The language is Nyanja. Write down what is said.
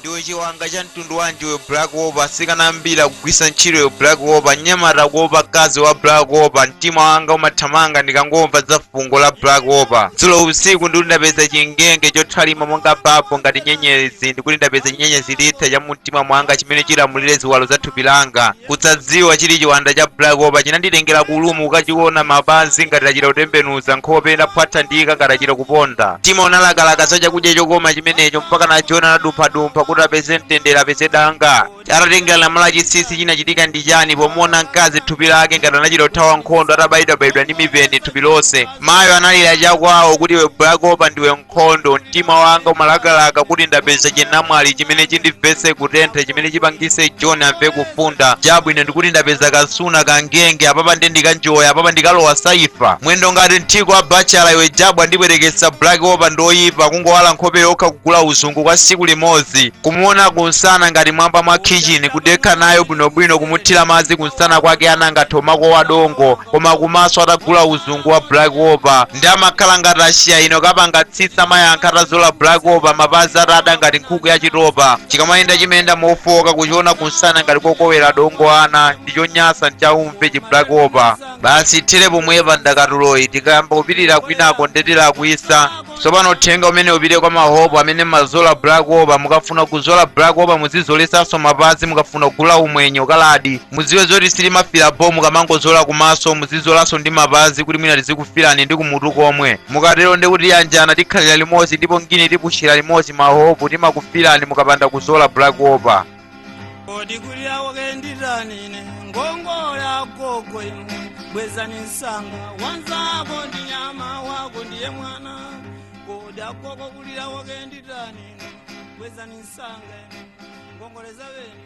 Ndiwe chiwanda cha mtundu wanji iwe Black Opal atsikana ambiri akugwiritsa ntchito iwe Black Opal mnyamata akuopa mkazi wa Black Opal mtima wanga umathamanga ndikangomva za fungo la Black Opal dzulo usiku ndikuti ndapeza chingenge chothalima monga bapo ngati nyenyezi ndikuti ndapeza chi nyenyezi litha cha mumtima mwanga chimene chilamulire ziwalo za thupi langa kusadziwa chili chiwanda cha black opal chinanditengera ku ulumu kukachiona mapazi ngati achita kutembenuza nkhope inaphwathalika ngati achita kuponda mtima unalakalaka za chakudya chokoma chimenecho mpaka na john anadumphadumpha kuti apeze mtendere apeze danga atatengera lamulo la chinsinsi chinachitika ndi chani pomuona mkazi thupi lake ngati anachita kuthawa nkhondo atabayidwabayidwa ndi mipeni thupi lonse mayo analira chakwawo kuti iwe black opal ndiwe nkhondo mtima wanga umalakalaka kuti ndapeza chinamwali chimene chindimvetse kutentha chimene chipangise john amve kufunda chabwino ndikuti ndapeza kasuna kangenge apapa nde ndikanjoya apapa ndikalowa saifa mwendo ngati mthiko wa bachela iwe jabwa ndibwerekeza black opal ndi yoyipa kungowala nkhope yokha kugula uzungu kwa siku limodzi kumuona kunsana ngati mwamba mwa khichini kudekha nayo bwinobwino kumuthira madzi kunsana kwake anangotha mako wa dongo koma kumaso atagula uzungu wa black opal ndi amakhala ngati asiya ina kapanga tsitsi amayankha atazola black opal mapazi atada ngati nkhuku ya chitopa chikamayenda chimayenda mofowoka kuchiona kunsana ngati kokowera dongo ana nchonyasa nchaumve chi black opal basi ithere pomwepa ndakatuloyi tikayamba kupitira kwinako nde tilakwitsa tsopano uthenga umene upite kwa mahope amene mumazola black opal mukafuna kuzola black opal muzizoletsanso mapazi mukafuna kugula umwenyo kaladi mudziwe zoti sitimafira bho mukamangozola kumaso muzizolanso ndi mapazi kuti mwina tizikufirani ndi kumutu komwe mukatero nde kuti iyanjana tikhalira limodzi ndipo ngini tipushira limodzi mahope timakufirani mukapanda kuzola black opal kodi kulira kwake nditanine ngongole agogo inu bwezani msanga wanzako ndi nyama wako ndiye mwana kodi agogo kulira kwake nditanine bwezani msanga inu ngongoleza beni